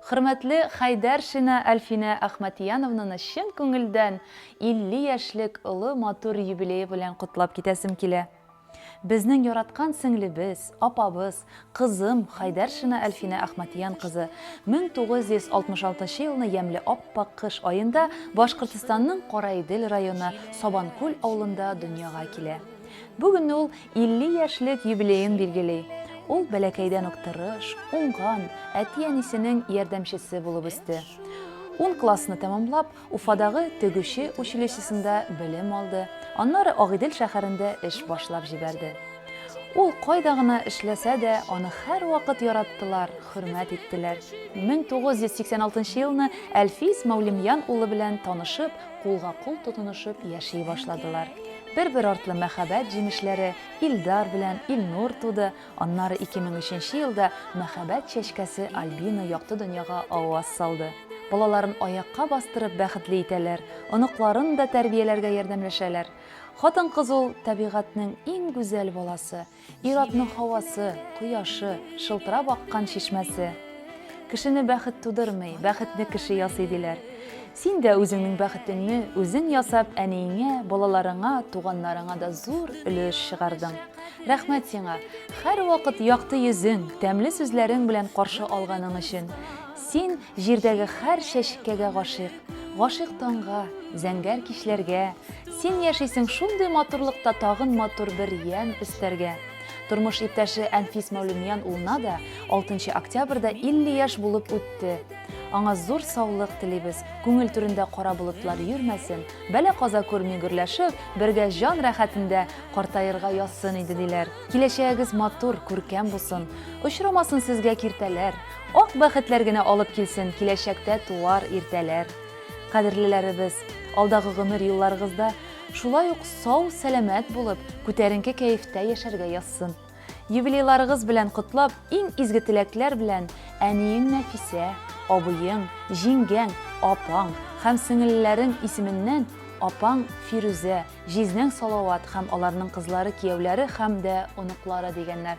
Хөрмәтле Хәйдәршина Әлфинә Әхмәтияновнаны чын күңелдән 50 яшьлек олы матур юбилее белән котлап китәсем килә. Безнең яраткан сеңлебез, апабыз, кызым Хәйдәршина Әлфинә Әхмәтиян кызы 1966 елны ямьле ап-пак кыш аенда Башкортостанның Караидел районы Сабанкүл авылында дөньяга килә. Бүген ул 50 яшьлек юбилеен билгели. Ул бәләкәйдән үк тырыш, уңган, әти-әнисенең ярдәмчесе булып үсте. Ун классны тәмамлап, Уфадагы тегүче училищесында белем алды, аннары Агыйдел шәһәрендә эш башлап җибәрде. Ул кайда гына эшләсә дә, аны һәрвакыт яраттылар, хөрмәт иттеләр. 1986 елны Әлфис Мәүлемьян улы белән танышып, кулга-кул тотынышып яши башладылар. Бер-бер артлы мәхәббәт җимешләре Илдар белән Илнур туды, аннары 2003 нче елда мәхәббәт чәчкәсе Альбина якты дөньяга аваз салды. Балаларын аякка бастырып бәхетле итәләр, оныкларын да тәрбияләргә ярдәмләшәләр. Хатын-кыз ул, табигатьнең иң гүзәл баласы, Ир-атның һавасы, кояшы, шылтырап аккан чишмәсе. Кешене бәхет тудырмый, бәхетне кеше ясый, диләр. Син дә үзеңнең бәхетеңне үзең ясап, әниеңә, балаларыңа, туганнарыңа да зур өлеш чыгардың. Рәхмәт сиңа, һәрвакыт якты йөзең, тәмле сүзләрең белән каршы алганың өчен. Син җирдәге һәр чәчкәгә гашыйк. Гашыйк таңга, зәңгәр кичләргә, Син яшисең шундый матурлыкта Тагын матур бер ямь өстәргә. Тормыш иптәше Әнфис Мәүлемиян улына да 6 октябрьдә 50 яшь булып үтте. Аңа зур саулык телибез, күңел түрендә кара болытлар йөрмәсен, бәла-каза күрми гөрләшеп, бергә җан рәхәтендә картаерга язсын иде, диләр. Киләчәгегез матур, күркәм булсын, очрамасын сезгә киртәләр! Ак бәхетләр генә алып килсен киләчәктә туар иртәләр. Кадерлеләребез, алдагы гомер юлларыгызда шулай ук сау-сәламәт булып, күтәренке кәефтә яшәргә язсын. Юбилейларыгыз белән котлап, иң изге теләкләр белән әниең Нәфисә, абыең, җиңгәң, апаң һәм сеңелләрең исеменнән апаң Фирүзә, җизнәң Салават һәм аларның кызлары-кияүләре һәм дә оныклары дигәннәр.